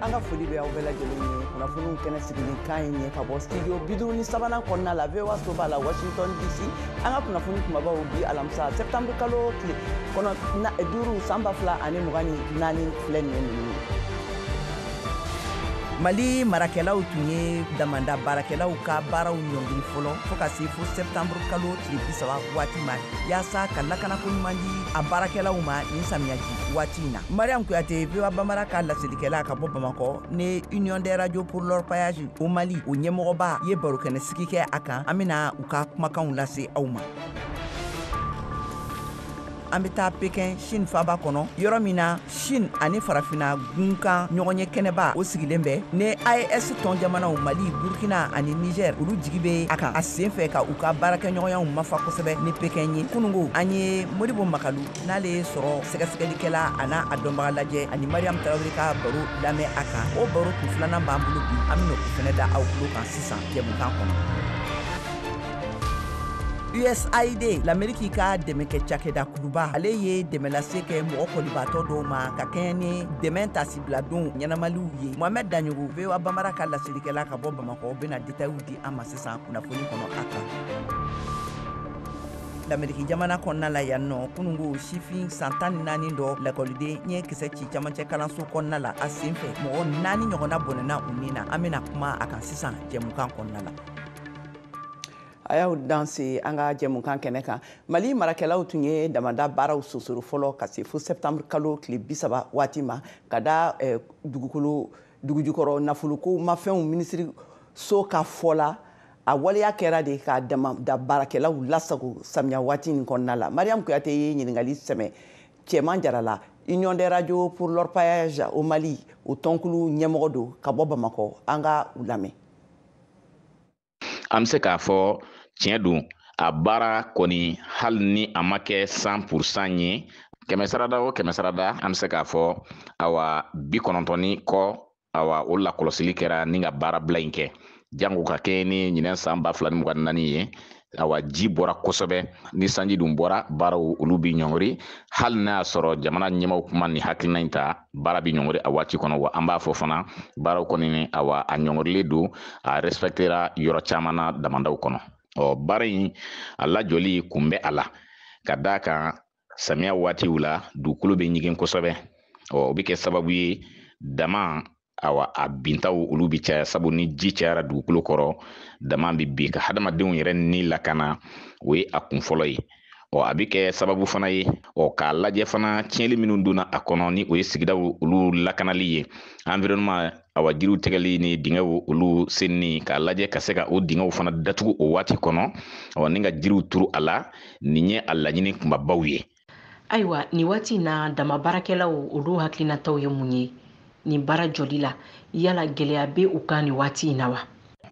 an ka foli bɛ aw bɛɛ lajɛlen ye kunnafoniw kɛnɛ sigilen kan ye ɲɛ ka bɔ studio biduuru ni sabanan kɔnɔna la voa soba la washington dc an ka kunnafoni kumabaw bi alamisa septembre kalo tile kɔnɔ duuru san ba fila ani mugan ni naani filɛ nin ye ninnu ye mali marakɛlaw tun ye damanda baarakɛlaw ka baaraw ɲɔngiri fɔlɔ fo ka se fo septembre kalo tile bisaba waati ma yaasa ka lakanako ɲuman di a baarakɛlaw ma nin samiyaji waati in na mariam kuyate voa bambara ka laselikɛla ka bɔ bamakɔ ni union des radio pour l'orpaillage au mali o ɲɛmɔgɔba ye barokɛnɛ sigi kɛ a kan an bɛna u ka kumakanw lase aw ma an bɛ taa pekin chine faaba kɔnɔ yɔrɔ min na chine ani farafina gunkan ɲɔgɔnye kɛnɛba o sigilen bɛ ni aes tɔn jamanaw mali burkina ani niger olu jigi bɛ a kan a sen fɛ ka u ka baarakɛɲɔgɔnyaw mafa kosɛbɛ ni pekin ye kunungo an ye modibo makalu n'ale ye sɔrɔ sɛgɛsɛgɛlikɛla ani a dɔnbaga lajɛ ani mariam tarawele ka baro lamɛn a kan o baro kun filanan b'an bolo bi an bɛna o fɛnɛ da aw tulo kan sisan jɛmukan kɔnɔ usaid lameriki ka dɛmɛkɛ cakɛda kuluba ale ye dɛmɛ lase kɛ mɔgɔ kɔlibaatɔ dɔw ma ka kɛɲɛ ni dɛmɛ tasibiladon ɲɛnamaliw ye mohamɛd daɲɔgɔ voa bambara ka laselikɛla ka bɔ bamakɔ bɛna detayiw di an ma sisan kunnafoni kɔnɔ a kan lameriki jamana kɔnɔna la yan nɔ kunungo sifin san tan ni naani dɔ lakɔliden ye kisɛ ci camancɛ kalanso kɔnɔna la a sen fɛ mɔgɔ naani ɲɔgɔnna bɔnɛna u ni na an bɛna kuma a kan sisan jɛmukan kɔnɔna la a y'aw danse an ka jɛmukan kɛnɛ kan mali marakɛlaw tun ye damada baaraw sonsoro fɔlɔ ka se fo septembre kalo tile bisaba waati ma ka da eh, dugukolo dugujukɔrɔ nafolokow mafɛnw minisiriso ka fɔ la a waleya kɛra de ka damada baarakɛlaw lasago samiya waati nin kɔnɔna la mariam kuyate ye ɲininkali sɛmɛ cɛman jara la union des radio pour l'orpaillage au mali o tɔnkulu ɲɛmɔgɔ don ka bɔ bamakɔ an ka u lamɛn an bɛ se k'a fɔ tiɲɛ don a baara kɔni hali ni a ma kɛ cent pour cent ye kɛmɛ sarada o kɛmɛ sarada an bɛ se k'a fɔ awa bikɔnɔntɔn ni kɔ awa o lakɔlɔsili kɛra ni ka baarabila in kɛ jango ka kɛɲɛ ni ɲinɛ san ba fila ni mugan ni naani ye awa ji bɔra kosɛbɛ ni sanji dun bɔra baaraw olu bi ɲɔngiri hali n'a y'a sɔrɔ jamana ɲɛmaaw kun ma nin hakilina in ta baara bi ɲɔngiri a waati kɔnɔ wa an b'a fɔ fana baaraw kɔni ni awa a ɲɔngirilen don a respɛktera yɔrɔ caman na damandaw kɔnɔ ɔ baara in a lajɔli kun bɛ a la ka d'a kan samiya waatiw la dugukolo bɛ ɲigin kosɛbɛ ɔ o bɛ kɛ sababu ye dama awa a bintaw olu bɛ caya sabu ni ji cayara dugukolo kɔrɔ dama bɛ bin ka hadamadenw yɛrɛ ni lakana o ye a kun fɔlɔ ye ɔ a bɛ kɛ sababu fana ye ɔ k'a lajɛ fana tiɲɛli minnu donna a kɔnɔ ni o ye sigidaw olu lakanali ye environnement awa jiriw tigɛli ni dingɛw olu senni k'a lajɛ ka se ka o dingɛw fana datugu o waati kɔnɔ ɔ ni ka jiriw turu a la nin ye a laɲini kunbabaw ye ayiwa nin waati in na dama baarakɛlaw olu hakilinataw ye mun ye nin baara jɔli la yala gɛlɛya bɛ u kan nin waati in na wa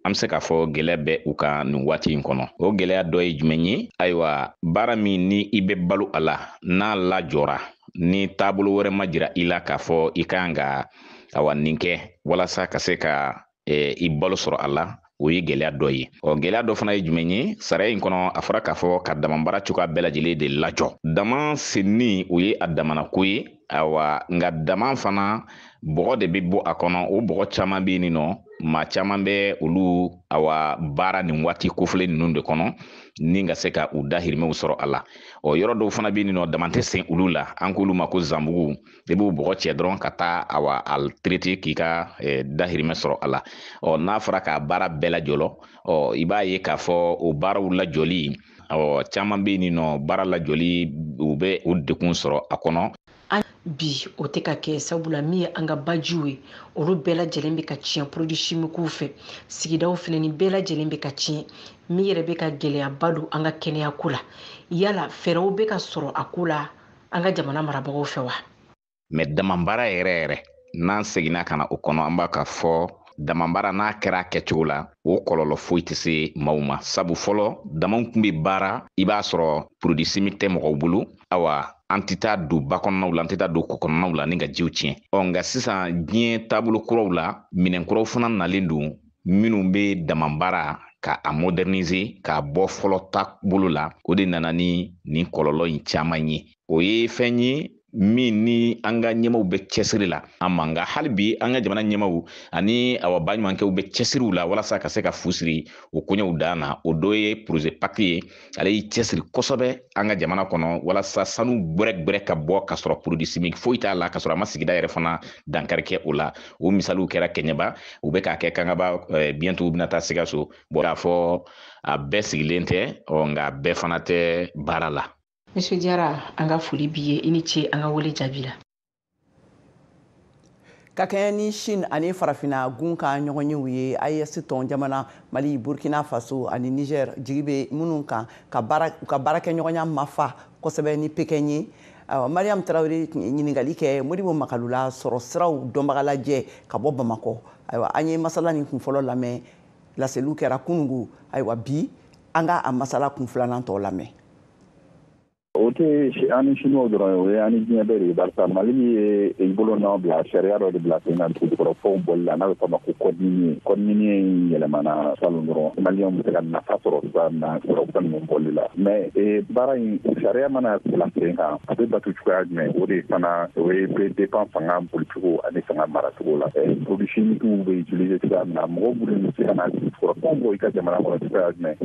an bɛ se k'a fɔ gɛlɛya bɛ u kan nin waati in kɔnɔ o gɛlɛya dɔ ye jumɛn ye ayiwa baara min ni i bɛ balo a la n'a lajɔra ni taabolo wɛrɛ ma jira i la k'a fɔ i kan ka awa nin kɛ walasa ka se ka eh, i balo sɔrɔ a la o ye gɛlɛya dɔ ye ɔ gɛlɛya dɔ fana ye jumɛn ye sariya in kɔnɔ a fɔra k'a fɔ ka damanbaara cogoya bɛɛ lajɛlen de lajɔ dama senni o ye a damana ko ye awa nka dama fana bɔgɔ de bɛ bɔ a kɔnɔ o bɔgɔ caman bɛ yen nɔ maa caman bɛ olu awa baara nin waati kofɔlen ninnu de kɔnɔ ni ka se ka u dahirimɛw sɔrɔ a la ɔ yɔrɔ dɔw fana bɛ yen nɔ dama tɛ sen olu la an k'olu ma ko zanbugu i b'o bɔgɔ cɛ dɔrɔn ka taa awa a traiter k'i ka dahirimɛ sɔrɔ a la ɔ n'a fɔra k'a baara bɛɛ lajɔlɔ ɔ i b'a ye k'a fɔ o baaraw lajɔli ɔ caman bɛ yen nɔ baara lajɔli u bɛ u dekun sɔrɔ a kɔnɔ bi o tɛ ka kɛ sabula min ye an ka bajiw ye olu bɛɛ lajɛlen bɛ ka tiɲɛ produits chimiques fɛ sigidaw fana ni bɛɛ lajɛlen bɛ ka tiɲɛ min yɛrɛ bɛ ka gɛlɛyaba don an ka kɛnɛya ko la yala fɛɛrɛw bɛ ka sɔrɔ a ko la an ka jamana marabagaw fɛ wa mais damabaara yɛrɛ yɛrɛ n'an seginna ka na o kɔnɔ an b'a ka fɔ damabaara n'a kɛra a kɛcogo la o kɔlɔlɔ foyi tɛ se maaw ma sabu fɔlɔ damaw tun bɛ baara i b'a sɔrɔ produit chimique tɛ mɔgɔw bolo awa an tɛ taa don ba kɔnɔnaw la an tɛ taa don kɔ kɔnɔnaw la ni ka jiw tiɲɛ ɔ nka sisan diɲɛ taabolo kuraw la minɛn kuraw fana nalen don minnu bɛ damabaara ka a moderniser k'a bɔ fɔlɔ taabolo la o de nana ni nin kɔlɔlɔ in caman ye o ye fɛn ye min ni an ka ɲɛmaw bɛ cɛsiri la an man nka hali bi an ka jamana ɲɛmaw ani awa baɲumankɛw bɛ cɛsiriw la walasa ka se ka fu siri o koɲɛw dan na o dɔ ye projet pact ye ale y'i cɛsiri kosɛbɛ an ka jamana kɔnɔ walasa sanu gbɛrɛgbɛrɛ ka bɔ ka sɔrɔ produit chimique foyi t'a la ka sɔrɔ a ma sigida yɛrɛ fana dankari kɛ o la o misaliw kɛra kɛɲɛba u bɛ k'a kɛ kangaba eh, bientôt u bɛna taa sikaso bon k'a fɔ a bɛɛ sigilen tɛ ɔ nka bɛɛ fana tɛ baara la monsieur jara an ka foli b'i ye i ni ce an ka wele jaabi la ka kɛɲɛ ni chine ani farafina gun ka ɲɔgɔn yew ye aes tɔn jamana mali burkina faso ani niger jigi bɛ minnu kan u ka baarakɛɲɔgɔnya mafa kosɛbɛ ni pekɛn ye mariam tarawele ye ɲininkali kɛ modibo makalu la sɔrɔ siraw dɔnbaga lajɛ ka bɔ bamakɔ ayiwa an ye masala nin kun fɔlɔ lamɛn laseliw kɛra kunungo ayiwa bi an ka a masala kun filanan tɔ lamɛn o tɛ an ni siniwaw dɔrɔn ye o ye an ni diɲɛ bɛɛ de ye barisa mali ye i bolo nɔ bila sariya dɔ de bila sen kan dugukɔrɔfɛnw bɔli la n'a bɛ fɔ a ma ko code minier code minier in yɛlɛmana salon dɔrɔn maliyɛnw bɛ se ka nafa sɔrɔ cogoya min na fɛn ninnu bɔli la mais baara in sariya mana bila sen kan a bɛ bato cogoya jumɛn o de fana o ye bɛ dépend fanga boli cogo ani fanga mara cogo la produits chimiques bɛ utiliser cogoya min na mɔgɔ minnu bɛ se ka na dugukɔrɔfɛnw bɔ i ka jamana kɔnɔ cogoya jumɛn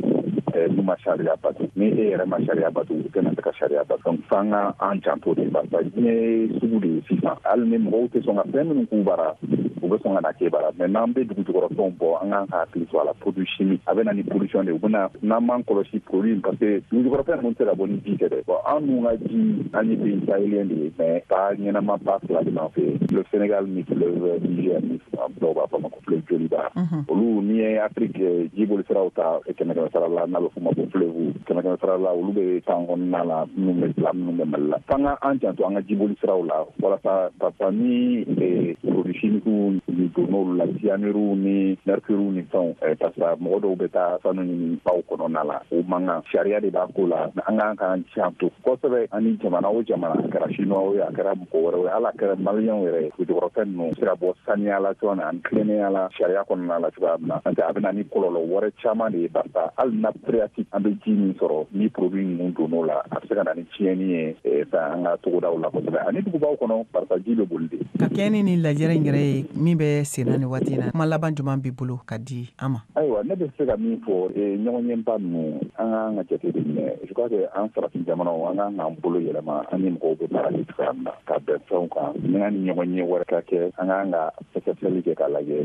n'u ma sariya bato ni e yɛrɛ ma sariya bato u tɛna se ka sariya bato donc f'an ka an janto de barisa diɲɛ ye sugu de ye sisan hali ni mɔgɔw tɛ sɔn ka fɛn minnu k'u bara u bɛ sɔn ka na k'e bara mais n'an bɛ dugu jukɔrɔfɛnw bɔ an kan ka hakili to a la produit chimique a bɛ na ni pollution de ye u bɛna n'an m'an kɔlɔsi produit parce que dugu jukɔrɔfɛn ninnu tɛ ka bɔ ni ji tɛ dɛ bon an dun ka ji an ye pays sahélien de ye mais ba ɲɛnama ba fila de b'an fɛ le Sénégal ni fleuve Niger ni dɔw b'a fɔ a ma ko fleuve joliba olu n'i ye Afrique eh, jiboli siraw ta eh, kɛmɛ kɛmɛ sara la n'a bɛ f'o ma ko fleuve kɛmɛ kɛmɛ sara la olu bɛ tan kɔnɔna la minnu bɛ bila minnu bɛ Mali la f'an ka an janto an ka jiboli siraw la walasa parce que ni eh, produits chimiques ninnu donn'olu la cyanure ni mercure ni fɛnw parce que mɔgɔ dɔw bɛ taa sanu ɲini baw kɔnɔna la o man kan sariya de b'a ko la an kan k'an janto kosɛbɛ ani jamana o jamana a kɛra chinois ye a kɛra mɔgɔ wɛrɛ ye wala a kɛra maliyɛnw yɛrɛ ye dugu jukɔrɔfɛn ninnu bɛ se ka bɔ saniya la cogoya min ani tilennenya la sariya kɔnɔna la cogoya min na n'o tɛ a bɛ na ni kɔlɔlɔ wɛrɛ caman de ye barisa hali nappe phréatique an bɛ ji min sɔrɔ ni produit ninnu donn'o la a bɛ se ka na ni tiɲɛni ye eh, fɛn an ka togodaw la kosɛbɛ ani dugubaw kɔnɔ barisa ji bɛ boli de ka kɛɲɛ ni nin lajɛrɛ in yɛrɛ ye min bɛ senna ni waati in na kuma laban jumɛn b'i bolo ka di an ma ayiwa ne bɛ se ka min fɔ eh, ɲɔgɔnyeba ninnu an ka an ka jate de minɛ Je crois que an farafin jamanaw an kan k'an bolo yɛlɛma an ni mɔgɔw bɛ baara kɛ cogoya min na ka bɛn fɛnw kan yanni ɲɔgɔnye wɛrɛ ka kɛ an kan ka sɛgɛsɛgɛli kɛ k'a lajɛ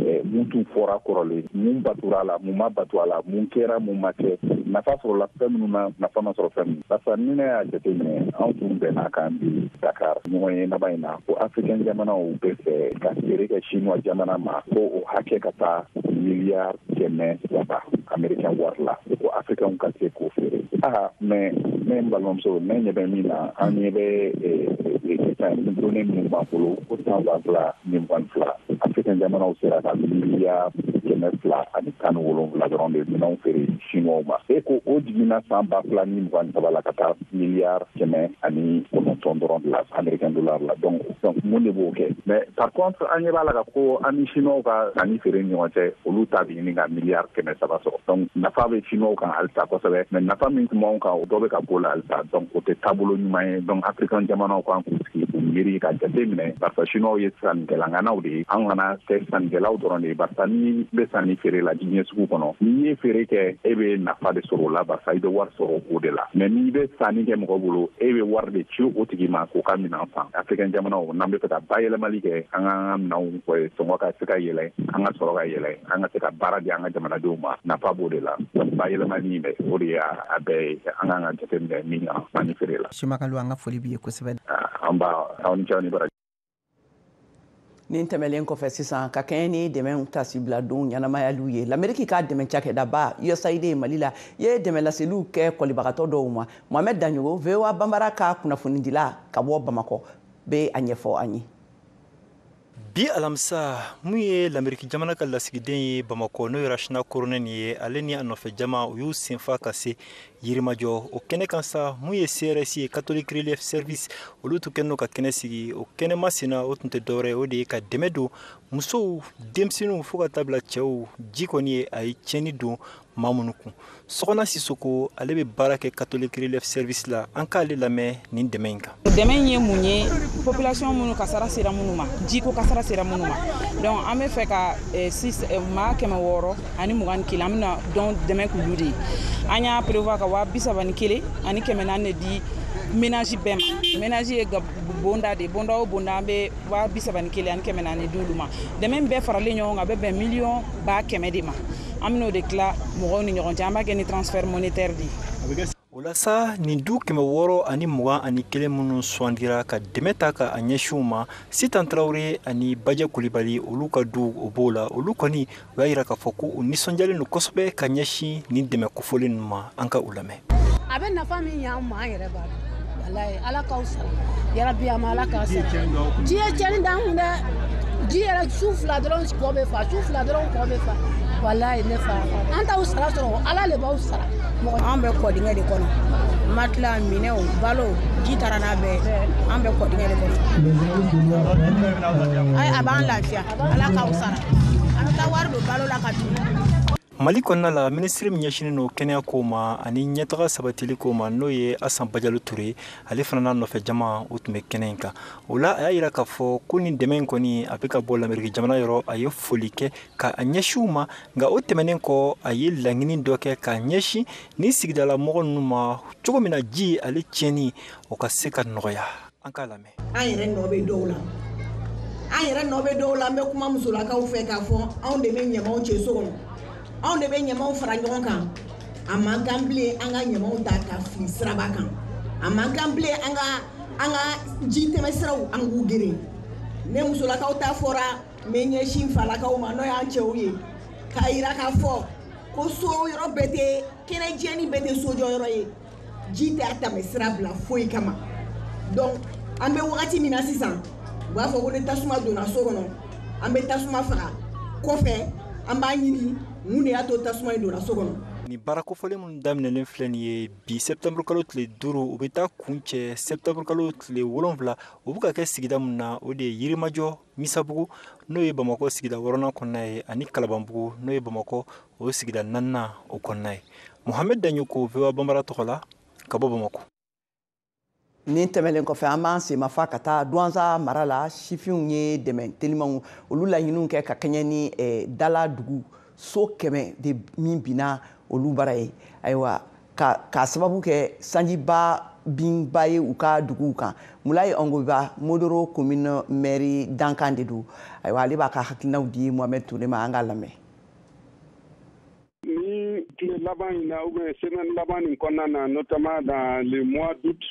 eh, mun tun fɔra kɔrɔlen mun batora a la mun ma bato a la mun kɛra mun ma kɛ nafa sɔrɔla fɛn minnu na nafa ma sɔrɔ fɛn min barisa ni ne y'a jateminɛ anw tun bɛnna kabi dakar ɲɔgɔnye laban in na ko africain jamanaw bɛ fɛ ka feere kɛ chinois jamana ma ko o hakɛ ka taa miliyari kɛmɛ saba amerikɛn wari la ko afirikɛnw ka se k'o feere aa mais ne n balimamuso ne ɲɛ bɛ min na an ɲɛ bɛ données minnu b'an bolo ko san ba fila ni mugan fila afirikɛn jamanaw sera ka miliyari kɛmɛ fila ani tan ni wolonwula dɔrɔn de minɛnw feere siniwaw ma e ko o jiginna san ba fila ni mugan saba la ka taa miliyari kɛmɛ ani kɔnɔntɔn dɔrɔn de la amerikɛn dolari la donc donc mun de b'o kɛ mais par contre an ɲɛ b'a la ka ko an ni siniwaw ka sanni feere ni ɲɔgɔn cɛ olu ta bɛ ɲini ka miliyari kɛmɛ saba sɔrɔ donc nafa bɛ siniwaw kan halisa kosɛbɛ mais nafa min tun b'anw kan o dɔ bɛ ka b'o la halisa donc o tɛ taabolo ɲuman ye donc afirikan jamanaw kan k'u sigi k'u miiri ka jate minɛ barisa siniwaw ye sannikɛlaŋanaw de ye an kana kɛ sannikɛlaw dɔrɔn de ye barisa n'i bɛ sanni feere la diɲɛ sugu kɔnɔ n'i ye feere kɛ e bɛ nafa de sɔrɔ o la barisa i bɛ wari sɔrɔ o de la mais n'i bɛ sanni kɛ mɔgɔ bolo e bɛ wari de ci o tigi ma k'o ka minɛn san afrikɛn jamanaw n'an bɛ fɛ ka bayɛlɛmali kɛ an ka an ka minɛnw sɔngɔ ka se ka yɛlɛ an ka sɔrɔ ka yɛlɛ an ka se ka baara di an ka jamanadenw ma nafa b'o de la bayɛlɛmali in dɛ o de y'a bɛɛ ye an kan ka jate minɛ min kan sanni feere la. Simakalo an ka foli b'i ye kosɛbɛ. An b'a aw ni ce aw ni baraji. nin tɛmɛlen kɔfɛ sisan ka kɛɲɛ ni dɛmɛ taasibila don ɲɛnamayaliw ye lameriki ka dɛmɛ cakɛdaba usaid mali la ye dɛmɛ laseliw kɛ kɔlibagatɔ dɔw ma mohamɛd daɲogo voa banbara ka kunnafonidila ka bɔ bamakɔ bɛ a ɲɛfɔ an ye bi alamisa mun ye lameriki jamana ka lasigiden ye bamakɔ n'o ye rachna korhonen ye ale ni a nɔfɛ jama u y'u sen fa ka se Yirimajɔ o kɛnɛ kan sa mun ye CRS ye catholic relief service olu tun kɛlen don ka kɛnɛ sigi o kɛnɛ masina o tun tɛ dɔwɛrɛ ye o de ye ka dɛmɛ don musow denmisɛnninw fo ka taa bila cɛw ji kɔni ye a ye tiɲɛni don maa minnu kun Sɔkɔna Sisoko ale bɛ baara kɛ catholic relief service la an k'ale lamɛn nin dɛmɛ in kan dɛmɛ in ye mun ye population minnu kasara sera minnu ma jiko kasara sera minnu ma donc an bɛ fɛ ka eh, eh, maa kɛmɛ wɔɔrɔ ani mugan ni kelen an bɛna donc dɛmɛ k'olu de ye an y'a prévoir ka waa bi saba ni kelen ani kɛmɛ naani de di ménage bɛɛ ma ménage ye bonda de bonda o bonda an bɛ waa bi saba ni kelen ani kɛmɛ naani di olu ma dɛmɛ bɛɛ faralen ɲɔgɔn kan a bɛ bɛn miliyɔn ba kɛmɛ de ma an bɛn'o de tila mɔgɔw ni ɲɔgɔn cɛ an b'a kɛ ni transfert monétaire de ye o la sa nin du kɛmɛ wɔɔrɔ ani mugan ani kelen minnu sugandira ka dɛmɛ ta ka a ɲɛsin u ma sitan tarawele ani bajɛ kulibali olu ka du o b'o la olu kɔni u y'a yira k'a fɔ ko u nisɔndiyalen don kosɛbɛ ka ɲɛsin nin dɛmɛ kofɔlen ninnu ma an ka u lamɛn a bɛ nafa min ɲɛ an ma an yɛrɛ b'a dɔn ala k'aw sara yarabi a ma ala k'a sara ji ye cɛnni d'an kun dɛ ji yɛrɛ su fila dɔrɔn kɔ bɛ fa su fila dɔrɔn kɔ bɛ fa walayi ne fa an t'aw sara sɔrɔ ala le b'aw sara an bɛ kɔdingɛ de kɔnɔ matila minɛw balo ji taara n'a bɛɛ an bɛ kɔdingɛ de kɔnɔ a b'an lafiya ala k'aw sara an bɛ taa wari don balo la ka dun mali kɔnɔna la minisiri min ɲɛsinnen don kɛnɛya ko ma ani ɲɛtaga sabatili ko ma n'o ye asan bajalo ture ale fana n'a nɔfɛ jama o tun bɛ kɛnɛ in kan o la a y'a yira k'a fɔ ko nin dɛmɛ in kɔni a bɛ ka bɔ lameriki jamana yɔrɔ a ye foli kɛ ka a ɲɛsin u ma nka o tɛmɛnen kɔ a ye laɲini dɔ kɛ ka ɲɛsin ni sigidala mɔgɔ ninnu ma cogo min na ji ale tiɲɛni o ka se ka nɔgɔya an k'a lamɛn an yɛrɛ nɔ bɛ dɔw la an yɛrɛ nɔ bɛ dɔw la an bɛ kuma musolakaw fɛ k'a fɔ anw de bɛ ɲamaw cɛ so kɔnɔ anw de bɛ ɲamaw fara ɲɔgɔn kan a man kan bilen an ka ɲamaw ta ka fili siraba kan a man kan bilen an ka an ka ji tɛmɛsiraw an k'u geren ni musolakaw ta fɔra n bɛ n ɲɛsin falakaw ma n'o y'an cɛw ye k'a yira k'a fɔ ko so yɔrɔ bɛɛ tɛ kɛnɛ jɛ nin bɛɛ tɛ sojɔ yɔrɔ ye ji tɛ a tɛmɛ sira bila foyi kama donc an bɛ wagati min na sisan u b'a fɔ ko ni tasuma donna so kɔnɔ an bɛ tasuma faga kɔfɛ an b'a ɲini mun de y'a to tasuma in donna so kɔnɔ nin baara kofɔlen minnu daminɛlen filɛ nin ye bi sɛptɛnburu kalo tile duuru u bɛ taa kuncɛ sɛptɛnburu kalo tile wolonfila u bɛ ka kɛ sigida min na o de ye yirimajɔ misabugu n'o ye bamakɔ sigida wɔɔrɔnan kɔnɔna ye ani kalabanbugu n'o ye bamakɔ o sigida naaninan o kɔnɔna ye muhamɛd daɲoko voa banbara tɔgɔ la ka bɔ bamakɔ nin tɛmɛlen kɔfɛ an b'an senmafa ka taa duwanza mara la sifinw ye dɛmɛ telimanw olu laɲiniw kɛ ka kɛɲɛ ni eh, dala dugu so kɛmɛ de min binna olu bara ye ayiwa k'a sababu kɛ sanjiba binba ye u ka duguw kan mulayi ɔngoba mondoro komine mɛri dankan de don ayiwa ale b'a ka hakilinaw di mohamɛd ture ma an k'a lamɛn nin tile laban in na ou bien semaine laban nin kɔnɔna na notamment dans le mois d'août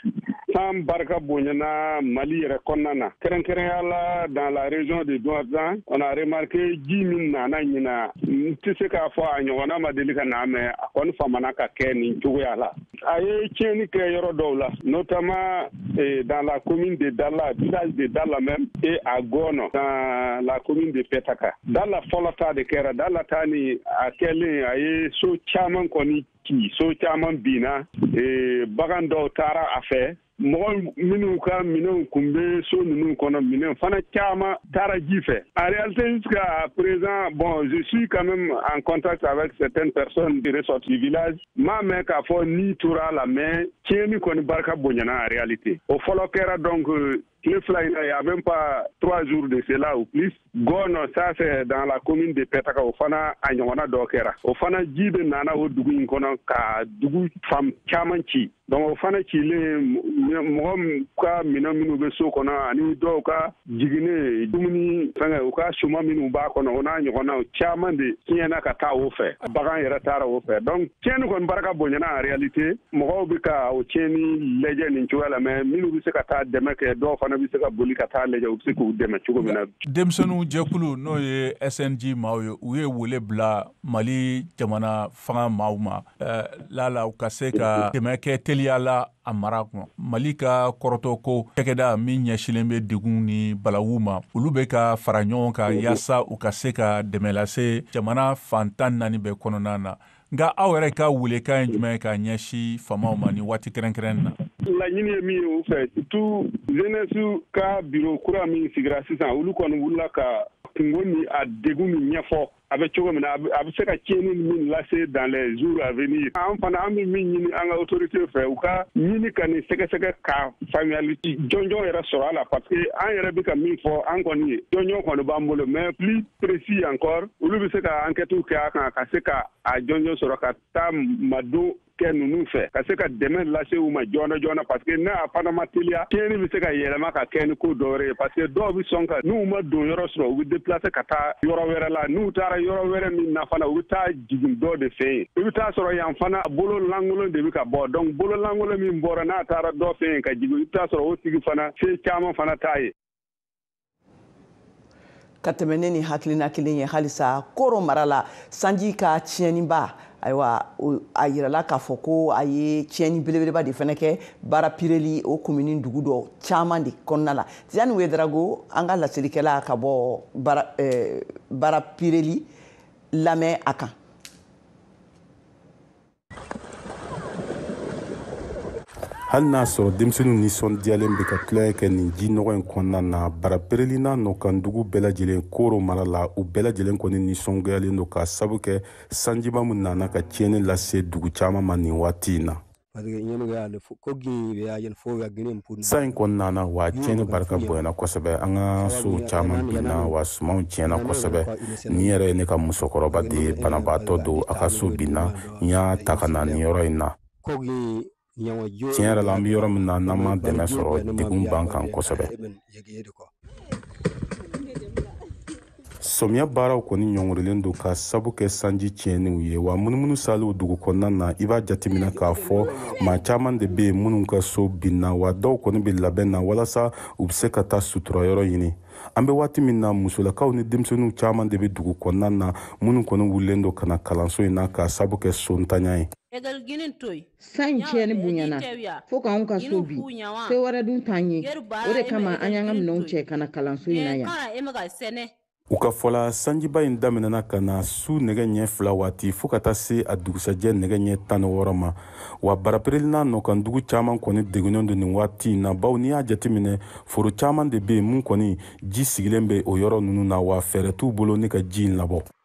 San barika bonyana Mali yɛrɛ kɔnɔna na kɛrɛnkɛrɛnya la dans la région de Douentza on a remarqué ji min nana ɲina n tɛ se k'a fɔ a ɲɔgɔnna ma deli ka na mais a kɔni famana ka kɛ nin cogoya la a ye tiɲɛni kɛ yɔrɔ dɔw la notamment eh, dans la commune de Dala village de Dala même et à Gono dans la commune de Petaka Dala fɔlɔ ta de kɛra Dala ta ni a kɛlen a ye so caman kɔni ci so caman binna eh, bagan dɔw taara a fɛ mɔgɔ minnu ka minɛnw kun bɛ so ninnu kɔnɔ minɛn fana caman taara ji fɛ en réalité jusqu'à présent bon je suis quand même en contact avec certaines personnes de ressorties du village n m'a mɛn k'a fɔ ni tora a la mais tiɲɛni kɔni barika bonyana en réalité o fɔlɔ kɛra donc euh, tile fila in na y a même pas trois jours de cela ou plus gɔɔnɔ ça c'est dans la commune de pɛtaka o fana a ɲɔgɔnna dɔ kɛra o fana ji de nana o dugu in kɔnɔ ka dugu fan caman ci donc o fana cilen mɔgɔ ka minɛn minnu bɛ so kɔnɔ ani dɔw ka jiginɛ dumuni fɛngɛ u ka suman minnu b'a kɔnɔ o n'a ɲɔgɔnnaw caman de tiɲɛna ka taa o fɛ bagan yɛrɛ taara o fɛ donc tiɲɛni kɔni barika bonyana en réalité mɔgɔw bɛ ka o tiɲɛni lajɛ nin cogoya la mais minnu bɛ se ka taa dɛmɛ kɛ dɔw fana bɛ se ka boli ka taa lajɛ u bɛ se k'u dɛmɛ cogo min na denmisɛnninw jɛkulu n'o ye cnj maaw ye u ye wele bila mali jamana fanga maaw ma eh, laala u ka se ka dɛmɛ kɛ teliya la a mara kɔnɔ mali ka kɔrɔtɔ ko cakɛda min ɲɛsilen bɛ degun ni balawu ma olu bɛ ka fara ɲɔgɔn kan yaasa u ka se ka dɛmɛ lase jamana fan tan naani bɛɛ kɔnɔna na nka aw yɛrɛ ka welekan ye jumɛn ye ka ɲɛsin faamaw ma nin waati kɛrɛnkɛrɛn na laɲini ye min ye u fɛ surtout jeunesse ka bureau kura min sigira sisan olu kɔni wulila ka kunko ni a degun min ɲɛfɔ a bɛ cogo min na a bɛ se ka tiɲɛni min lase dans les jours à venir an fana an bɛ min ɲini an ka autoritéw fɛ u ka ɲini ka nin sɛgɛsɛgɛ ka faamuyali jɔnjɔn yɛrɛ sɔrɔ a la parce que an yɛrɛ bɛ ka min fɔ an kɔni ye jɔnjɔn kɔni b'an bolo mais plus précis encore olu bɛ se ka ankɛtiw kɛ a kan ka se ka a jɔnjɔn sɔrɔ ka taa madon kɛ ninnu fɛ ka se ka dɛmɛ lase u ma joona joona parce que n'a fana ma teliya tiɲɛni bɛ se ka yɛlɛma ka kɛ ni ko dɔwɛrɛ ye parce que dɔw bɛ sɔn ka n'u ma donyɔrɔ sɔrɔ u bɛ déplacer ka taa yɔrɔ wɛrɛ la n'u taara yɔrɔ wɛrɛ min na fana u bɛ taa jigin dɔ de fɛ yen i bɛ t'a sɔrɔ yan fana bolo lankolon de bɛ ka bɔ donc bolo lankolon min bɔra n'a taara dɔ fɛ yen ka jigin i bɛ t'a sɔrɔ o tigi fana se caman fana t'a ye ka tɛmɛ ni nin hakilina kelen ye halisa koro mara la sanji ka tiɲɛniba ayiwa a yirala k'a fɔ ko a ye tiɲɛni belebeleba de fɛnɛ kɛ barapireli o komini dugu dɔ caman de kɔnɔna la tidiane ouedraogo an ka laselikɛla ka bɔ barapireli lamɛn a kan hali n'a sɔrɔ denmisɛnninw nisɔndiyalen bɛ ka tulonkɛ kɛ nin ji nɔgɔ in kɔnɔna na barapireli n'a nɔkan dugu bɛɛ lajɛlen koro mara la u bɛɛ lajɛlen kɔni nisɔngoyalen don k'a sabu kɛ sanjiba min nana ka tiɲɛni lase dugu caman ma nin waati in na sanji kɔni nana wa tiɲɛni barika bonyana kosɛbɛ an ka sow caman binna wa sumanw tiɲɛna kosɛbɛ nin yɛrɛ ye ne ka musokɔrɔba de ye banabaatɔ don a ka so binna n y'a ta ka na nin yɔrɔ in na tiɲɛ yɛrɛ la an bɛ yɔrɔ min na n'an ma dɛmɛ sɔrɔ degun b'an kan kosɛbɛ sɔmiya baaraw kɔni ɲɔngirilen don k'a sabu kɛ sanji tiɲɛniw ye wa munumunu saliw dugu kɔnɔna na i b'a jateminɛ k'a fɔ maa caman de bɛ yen minnu ka so binna wa dɔw kɔni bɛ labɛn na walasa u bɛ se ka taa sutura yɔrɔ ɲini an bɛ waati min na musolakaw ni denmisɛnninw caman de bɛ dugu kɔnɔna na minnu kɔni wulilen don ka na kalanso in na k'a sabu kɛ sontanya ye. sanji tiɲɛni bonyana fo k'anw ka so bin se wɛrɛ dun t'an ye o de kama an y'an ka minɛnw cɛ ka na kalanso in na yan u ka fɔ la sanjiba in daminɛna ka na su nɛgɛ ɲɛ fila waati fɔɔ ka taa se a dugusajɛ nɛgɛ ɲɛ tan ni wɔɔrɔ ma wa barapereli n'a nɔkan dugu caaman kɔni degunnen don nin waati na bawo n'i y'a jateminɛ foro caaman de be yen min kɔni ji sigilen be o yɔrɔ nunu na wa fɛɛrɛ t'u bolo ni ka ji in labɔ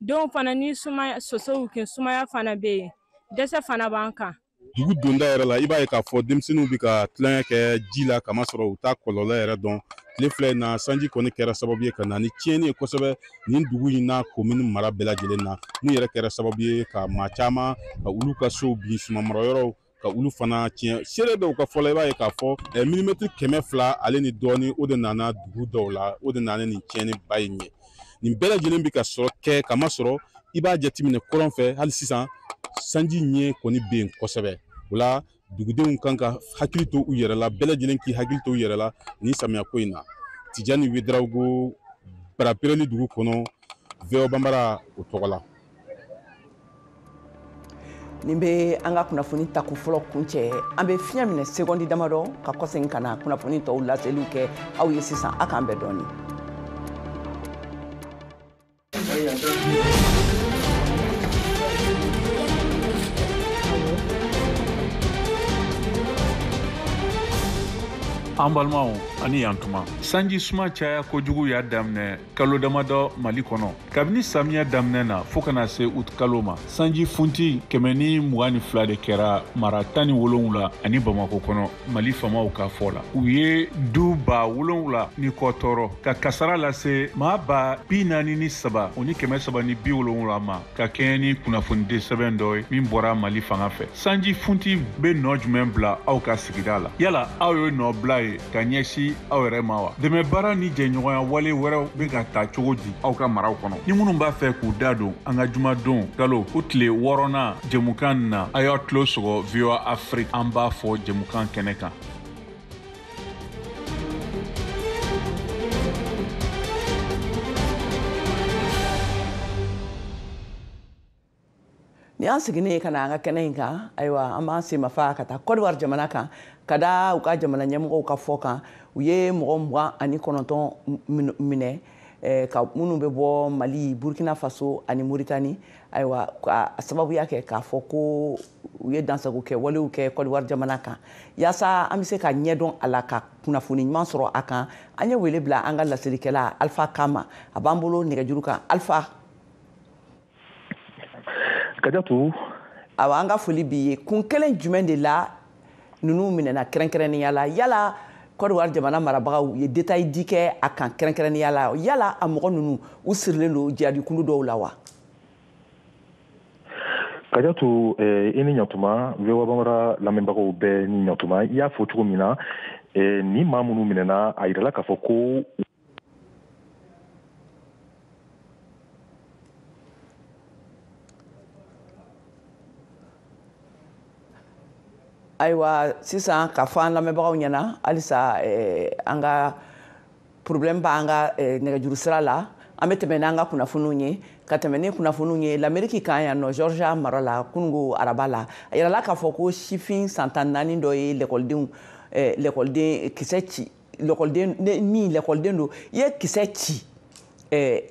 denw fana ni sumaya sosow kin sumaya fana bɛ yen dɛsɛ fana b'an kan dugu donda yɛrɛ la i b'a ye k'a fɔ denmisɛnninw bɛ ka tulonkɛ kɛ ji la k'a masɔrɔ u t'a kɔlɔlɔ yɛrɛ dɔn tile fila in na sanji kɔni kɛra sababu ye ka na ni tiɲɛni ye kosɛbɛ nin dugu in n'a komini mara bɛɛ lajɛlen na min yɛrɛ kɛra sababu ye ka maa caman ka olu ka sow bin sumanmarayɔrɔw ka olu fana tiɲɛ seere dɔw ka fɔ la i b'a ye k'a fɔ eh, milimɛtiri kɛmɛ fila ale ni dɔɔni o de nana dugu dɔw la o de nana nin tiɲɛniba in ye nin bɛɛ lajɛlen bɛ ka sɔrɔ kɛ k'a masɔrɔ i b'a jateminɛ kɔrɔn fɛ hali sisan sanji ɲɛ kɔni bɛ yen kosɛbɛ o la dugudenw kan ka hakili to u yɛrɛ la bɛɛ lajɛlen k'i hakili to u yɛrɛ la nin samiya ko in na tijani wedarawogo barapereli dugu kɔnɔ voa banbara o tɔgɔ la nin bɛ an ka kunnafoni tako fɔlɔ kuncɛ an bɛ fiɲɛ minɛ sekondi damadɔ ka kɔsegin ka na kunnafoni tɔw laseliw kɛ aw ye sisan a k'an bɛn dɔɔnin an balimaw a ni yan tuma sanji suma caya kojugu y'a daminɛ kalo damadɔ mali kɔnɔ kabini samiya daminɛna fɔɔ ka na se uti kalo ma sanji funti kɛmɛ ni mugan ni fila de kɛra mara tan ni wolonwula ani bamako kɔnɔ mali faamaw ka fɔ la u ye du ba wolonwula ni kɔ tɔɔrɔ ka kasara lase maa ba bi naani ni saba o ni kɛmɛ saba ni bi wolonwula ma ka kɛɲɛ ni kunnafonidi sɛbɛn dɔ ye min bɔra mali fanga fɛ sanji funti be nɔɔ jumɛn bila aw ka sigida la yala aw ye nɔɔ bila ye ka ɲɛsi aw yɛrɛ ma wa dɛmɛ baara ni jɛɲɔgɔnya wale wɛrɛw be ka taa cogo di aw ka maraw kɔnɔ ni minnu b'a fɛ k'u da don an ka jumadon kalo o tile wɔɔrɔnan jɛmukan na a y'a tulo sɔgɔ voa afrik an b'a fɔ jɛmukan kɛnɛ kan nin y'an seginnen ka na an ka kɛnɛ in kan ayiwa an b'an senmafa ka taa kɔdiwari jamana kan ka da u ka jamana ɲɛmɔgɔw ka fɔ kan u ye mɔgɔ mugan ani kɔnɔntɔn minɛ eh, ka minnu bɛ bɔ mali burkina faso ani moritani ayiwa ka sababuya kɛ k'a fɔ ko u ye dansago kɛ walew kɛ kɔdiwari jamana kan yaasa an bɛ se ka ɲɛdɔn a la ka kunnafoni ɲuman sɔrɔ a kan an ye wele bila an ka laselikɛla alfa kama a b'an bolo nɛgɛjuru kan alfa kadiatu awa an ka foli b'i ye kun kelen jumɛn de la ninnu minɛna kɛrɛnkɛrɛnnenya la yala kɔdiwari jamana marabagaw ye detayi di kɛ a kan kɛrɛnkɛrɛnnenya la yala a mɔgɔ ninnu u sirilen don jihadikulu dɔw la wa kadiatu eh, i ni ɲatuma voa bambara lamɛnbagaw bɛɛ ni ɲatuma i y'a fɔ cogo min na eh, ni maa minnu minɛna a yirala k'a fɔ ko ayiwa sisan ka fɔ an lamɛnbagaw ɲɛna halisa eh, an ka problème b'an ka eh, nɛgɛjuru sira la an bɛ tɛmɛ n'an ka kunnafoniw ye ka tɛmɛ ni kunnafoniw ye lameriki kan yan nɔ georgia mara la kunungo araba la a yirala k'a fɔ ko sifin san tan naani dɔ ye lɛkɔlidenw eh, lɛkɔliden kisɛ ci lɛkɔliden min lɛkɔliden don i ye kisɛ ci eh,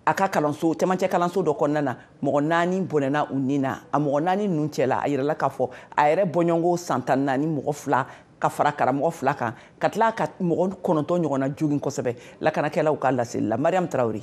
a ka kalanso cɛmancɛ kalanso dɔ kɔnɔna na mɔgɔ naani bɔnɛna u ni na a mɔgɔ naani ninnu cɛla a yirala k'a fɔ a yɛrɛ bɔɲɔgɔnko san tan naani mɔgɔ fila ka fara karamɔgɔ fila kan ka tila ka mɔgɔ kɔnɔntɔn ɲɔgɔnna jogin kosɛbɛ lakanakɛlaw ka laseli la mariam tarawele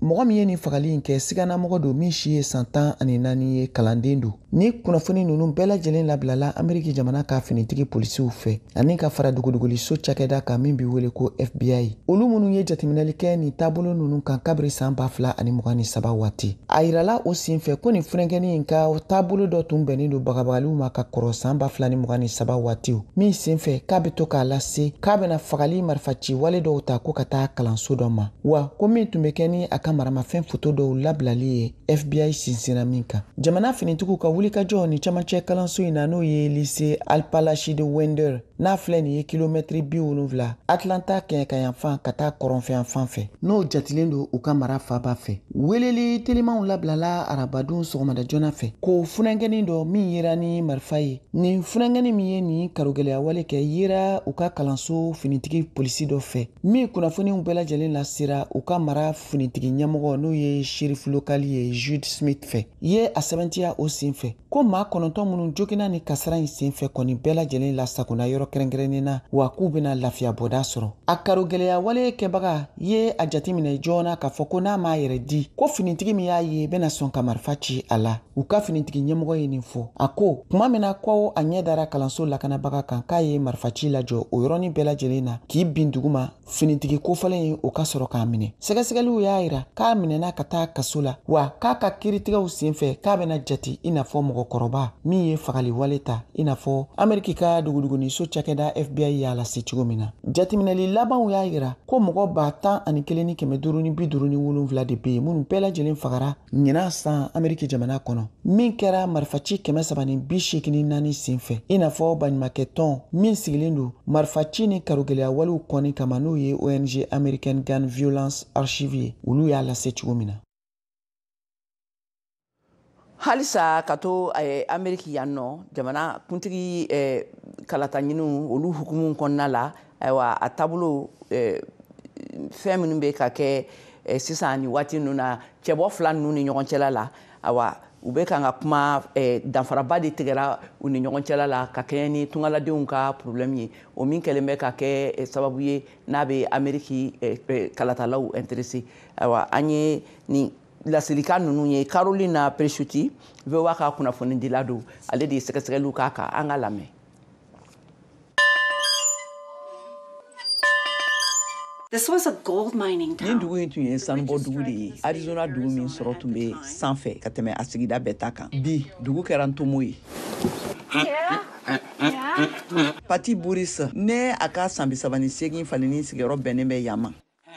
mɔgɔ min ye nin fagali in kɛ siganamɔgɔ don min si ye san tan ani naani ye kalanden don ni kunnafoni ninnu bɛɛ lajɛlen labilala ameriki jamana ka finitigi polisiw fɛ ani ka fara dogodogoliso cakɛda kan min be wele ko fbi olu minnu ye jatiminɛli kɛ nin taabolo ninnu kan kabiri san ba fila ani mugan ni saba waati a yirala o sen fɛ ko nin funankɛni in ka taabolo dɔ tun bɛnnen don bagabagaliw ma ka kɔrɔ san ba fila ni mugan ni saba waatiw min sen fɛ k'a be to k'a lase k'a bena fagali marifaci wale dɔw ta ko ka taa kalanso dɔ ma wa ko min tun bɛ kɛ ni a ka maramafɛn foto dɔw labilali ye fbi sinsinna min kan jamana finitigiw ka wulikajɔ nin cɛmancɛ kalanso in na n'o ye lise apalachee de winder n'a filɛ nin ye kilomɛtiri bi wolonfila atlanta kɛɲɛkayanfan ka taa kɔrɔnfɛyanfan fɛ n'o jatilen don u ka mara faaba fɛ Weleli telimanw labilala arabadon sɔgɔmada joona fɛ ko funankɛnin dɔ min yera ni marifa ye nin funankɛnin min ye nin karogɛlɛya wale kɛ yera u ka kalanso finitigi polisi dɔ fɛ min kunnafoniw bɛɛ lajɛlen lasera u ka mara finitigi ɲɛmɔgɔ n'o ye sherifi lokali ye jud smith fɛ ye a sɛbɛntiya o sen fɛ ko maa kɔnɔntɔn minnu joginna ni kasara in senfɛ kɔni bɛɛ lajɛlen lasagonna yɔrɔ kɛrɛnkɛrɛnnen na wa k'u bɛna lafiyabɔda sɔrɔ a karogɛlɛya wale kɛbaga ye a jateminɛ joona k'a fɔ ko n'a m'a yɛrɛ di ko finitigi min y'a ye bɛna sɔn ka marifa ci a la u ka finitigi ɲɛmɔgɔ ye nin fɔ a ko kuma min na ko a ɲɛ dara kalanso lakanabaga kan k'a ye marifaci lajɔ o yɔrɔnin bɛɛ lajɛlen na k'i bin duguma finitigi kofɔlen ye o ka sɔrɔ k'a minɛ sɛgɛsɛgɛliw y'a yira k'a minɛna ka taa kaso la wa k'a ka kiiritigɛw sen fɛ k'a bɛna jati i n'a fɔ mɔgɔkɔrɔba min ye fagali wale ta i n'a fɔ ameriki ka duguduguniso cakɛda fbi y'a lase cogo min na jatiminɛli labanw y'a yira ko mɔgɔ ba tan ani kelen ni kɛmɛ duuru ni bi duuru ni wolonfila de be yen minnu bɛɛ lajɛlen fagara ɲinan san ameriki jamana kɔnɔ min kɛra marifaci kɛmɛ saba ni bi seegin ni naani sen fɛ i n'a fɔ baɲumakɛ tɔn min sigilen don marifaci ni karogɛlɛya walew kɔni kama n'o ye ong american gun violence archive ye olu y'a lase cogo min na halisa ka to eh, ameriki yan nɔ jamana kuntigi eh, kalataɲiniw olu hukumu kɔnɔna la ayiwa a taabolo eh, fɛn minnu bɛ ka kɛ eh, sisan ni waati ninnu na cɛbɔ fila ninnu ni ɲɔgɔn cɛla la awa u bɛ kan ka kuma eh, danfaraba de tigɛra u ni ɲɔgɔn cɛla la ka kɛɲɛ ni tungaladenw ka problɛmu ye o min kɛlen bɛ ka kɛ eh, sababu ye n'a bɛ ameriki eh, eh, kalatalaw interese awa an ye nin laselikan ninnu ye carolina presutti voa ka kunnafonidila don ale de ye sɛgɛsɛgɛliw k'a kan an k'a lamɛn This was a gold mining town. Nin dugu in tun ye sanubɔ dugu de ye arizona dugu min sɔrɔ tun bɛ sanfɛ ka tɛmɛ a sigida bɛɛ ta kan bi dugu kɛra ntomo ye pati buris ni a ka san bi saba ni segin falinin sigiyɔrɔ bɛnnen bɛ yan ma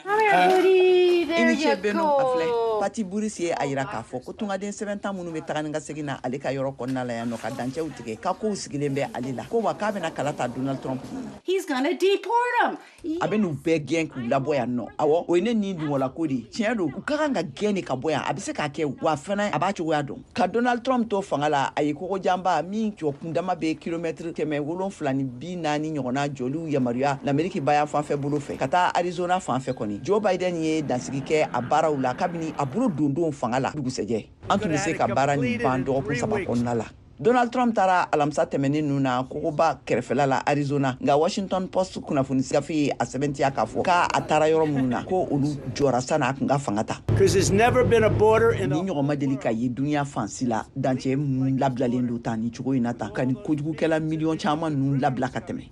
I cɛ bɛ filɛ pati buris ye a yira k'a fɔ ko tungaden sɛbɛntan minnu bɛ taa ni ka segin na ale ka yɔrɔ kɔnɔna la yan nɔ ka dancɛw tigɛ ka kow sigilen bɛ ale la ko wa k'a bɛna kala ta donald trump a bɛn'u bɛɛ gɛn k'u labɔ yan nɔ awɔ o ye ne nin dungɔlako de tiɲɛ don u ka kan ka gɛn de ka bɔ yan a bɛ se k'a kɛ wa fana a b'a cogoya dɔn ka donald trump to fanga la a ye kogo janba min jɔ kundama be kilomɛtiri kɛmɛ wolonfila ni bi naani ɲɔgɔnna jɔliw yamaruya lameriki bayanfan fɛ bolo fɛ ka taa arizona fanfɛ kɔni joe biden ye dansigi kɛ a baaraw la kabini a bolo don don fanga la dugusɛjɛ an tun be se ka baara nin ban dɔgɔkun saba kɔnɔna la donald trump taara alamisa tɛmɛnen nu na kogoba kɛrɛfɛla la arizona nka washington post kunnafoni sigafe ye a sɛbɛntiya k'a fɔ k'a a taara yɔrɔ minnu na ko olu jɔra sani a tun ka fanga ta nin ɲɔgɔn ma deli ka ye duniɲa fan si la dancɛ minnu labilalen don tan nin cogo in na tan ka nin kojugukɛla miliyɔn caman ninnu labila ka tɛmɛ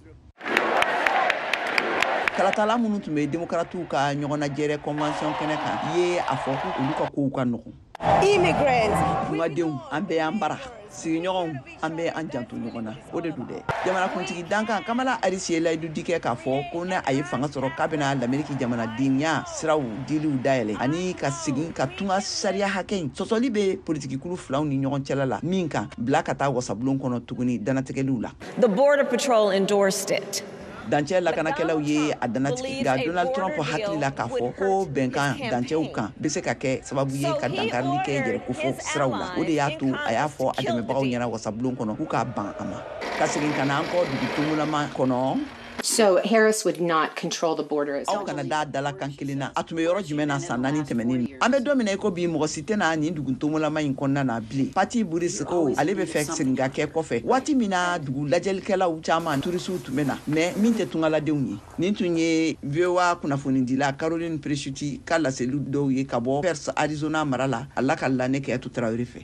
kalatala minnu tun bɛ demokaratiw ka ɲɔgɔnnajɛrɛ kɔnwansiyɔn kɛnɛ kan ye a fɔ ko olu ka kow ka nɔgɔn immigrants. Tungadenw an bɛ an bara sigiɲɔgɔnw an bɛ an janto ɲɔgɔn na o de don dɛ jamanakuntigi dankan kamala harisi ye layidu di kɛ k'a fɔ ko n'a ye fanga sɔrɔ k'a bɛna lameriki jamanadenya siraw diliw dayɛlɛ ani ka segin ka tunga sariya hakɛ in sɔsɔli bɛ politikikulu filaw ni ɲɔgɔn cɛla la min kan bila ka taa wasabulon kɔnɔ tuguni danatigɛliw la the border patrol endorsed it dancɛ lakanakɛlaw ye a danatigɛ nka donald trump hakili la k'a fɔ ko bɛnkan dancɛw kan bɛ se ka kɛ sababu ye ka dankarili kɛ yɛrɛkofɔ siraw la o de y'a to a y'a fɔ a dɛmɛbagaw ɲɛna wasabulon kɔnɔ k'u ka ban a ma ka segin ka na an kɔ dugu tomolama kɔnɔ So Harris would not control the border. Aw kana da a dalakan kelen na. A tun bɛ yɔrɔ jumɛn na san naani tɛmɛnen. An bɛ don min na i ko bi mɔgɔ si i tɛ na nin dugu tomolama in kɔnɔna na bilen pati buris ko ale bɛ fɛ segin ka kɛ kɔfɛ waati min na dugu lajɛlikɛlaw caman turisiw tun bɛ na mɛ min tɛ tungaladenw ye nin tun ye voa kunnafonidila carolyn presutti ka laseli dɔw ye ka bɔ pearce arizona mara la a lakalila an ye kajatu tarawele fɛ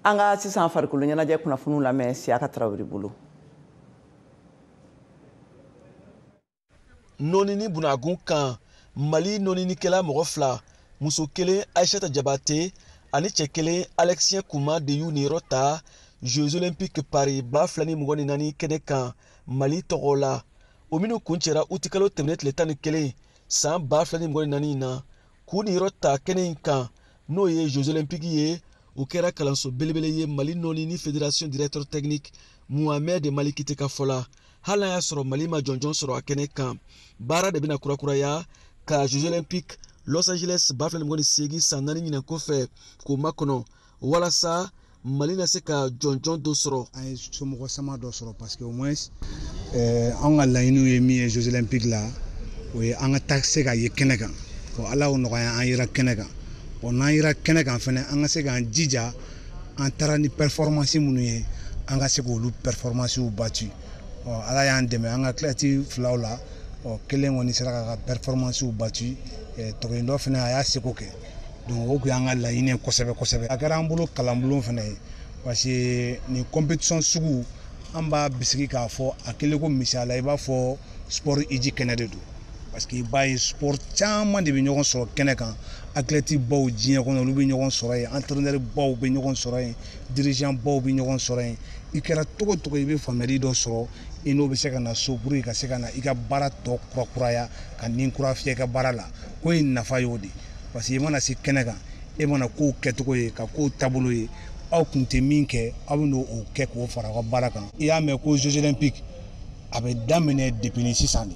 an ka sisan farikolo ɲɛnajɛ kunnafoniw lamɛn siyaka tarawele bolo nɔnini bunagun kan mali nɔninikɛla mɔgɔ fila muso kelen aisata jabate ani cɛ kelen alɛkisiyɛn kuma de y'u niyɔrɔ ta jeux olympique paris ba fila ni mugan ni naani kɛnɛ kan mali tɔgɔ la o minnu kuncɛra utikalo tɛmɛnen tile tan ni kelen san ba fila ni mugan ni naani in na k'u niyɔrɔ ta kɛnɛ in kan n'o ye jeux olympique ye o kɛra kalanso belebele ye mali nɔnini fédération directeur technique muhamɛd malikite ka fɔ la hali n'a y'a sɔrɔ mali ma jɔnjɔn sɔrɔ a kɛnɛ kan baara de bɛna kurakuraya ka jeux olympique los angeles ba fila ni mugan ni seegin san naani ɲinan kɔfɛ k'o makɔnɔ walasa mali na se ka jɔnjɔn dɔ sɔrɔ an ye somɔgɔ sama dɔ sɔrɔ parce que au moins eh, an ka laɲiniw ye min ye jeux olympique la o ye an ka taa se ka ye kɛnɛ kan bon ala y'o nɔgɔya an yera kɛnɛ kan bon n'an yera kɛnɛ kan fɛnɛ an ka se k'an jija an taara ni performance minnu ye an ka se k'olu performancew bati ala y'an dɛmɛ an ka athlète filaw la kelen kɔni sera k'a ka performancew bati eh, tɔ kelen dɔ fɛnɛ a y'a seko kɛ donc o tun y'an ka laɲini ye kosɛbɛ kosɛbɛ a kɛra an bolo kalanbulon fɛnɛ ye parce que nin competition sugu an b'a bisigi k'a fɔ a kɛlen ko misaliya i b'a fɔ sport hiji kɛnɛ de don parce que i b'a ye sport caman de bɛ ɲɔgɔn sɔrɔ kɛnɛ kan athlète baw diɲɛ kɔnɔ olu bɛ ɲɔgɔn sɔrɔ yen entraîneur baw bɛ ɲɔgɔn sɔrɔ yen dirigeant baw bɛ ɲɔgɔn sɔrɔ yen i kɛra cogo cogo i bɛ faamuyali dɔ sɔrɔ i n'o bɛ se ka na so pour que ka se ka na i ka baara tɔ kurakuraya ka ni kura fiyɛ i ka baara la ko in nafa y'o de parce que i mana se kɛnɛ kan e mana kow kɛcogo ye ka kow taabolo ye aw kun tɛ min kɛ aw bɛn'o kɛ k'o fara aw ka baara kan i y'a mɛn ko jeux olympiques a bɛ daminɛ depuis ni sisan de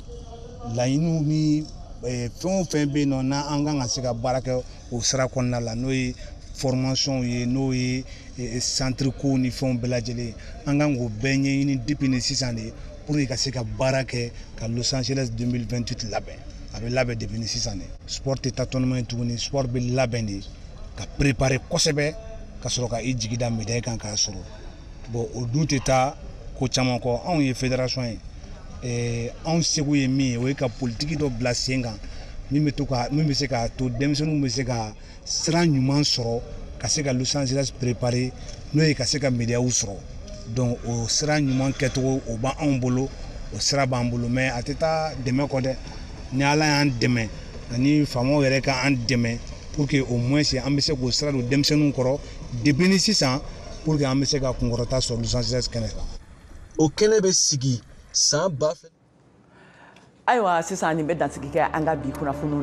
laɲiniw ni eh, fɛn o fɛn bɛ yen nɔ n'an kan ka se ka baara kɛ o sira kɔnɔna la n'o ye formation ye n'o ye eh, centre kow ni fɛnw bɛɛ lajɛlen an kan k'o bɛɛ ɲɛɲini depuis ni sisan de pour que ka se ka baara kɛ ka Los Angeles 2028 labɛn a bɛ labɛn depuis ni sisan de sport tɛ tâtonnement ye tuguni sport bɛ labɛn de ka préparer kosɛbɛ ka sɔrɔ ka i jigi da médaille kan k'a sɔrɔ bon o dun tɛ taa ko caman kɔ anw ye fédération ye eh, anw seko ye min ye o ye ka politiki dɔ bila sen kan min bɛ to ka min bɛ se k'a to denmisɛnninw bɛ se ka sira ɲuman sɔrɔ ka se ka Los Angeles préparer n'o ye ka se ka médaillew sɔrɔ donc o sira ɲuman kɛcogo o b'anw bolo o sira b'an bolo mais a tɛ taa dɛmɛ kɔ dɛ ni Ala y'an dɛmɛ ani faamaw yɛrɛ ka an dɛmɛ pour que au moins an bɛ se k'o sira don denmisɛnninw kɔrɔ depuis ni sisan pour que an bɛ se ka kunkɔrɔta sɔrɔ Los Angeles kɛnɛ kan. O kɛnɛ bɛ sigi san ba fila. Ayiwa sisan nin bɛ dansigi kɛ an ka bi kunnafoniw na.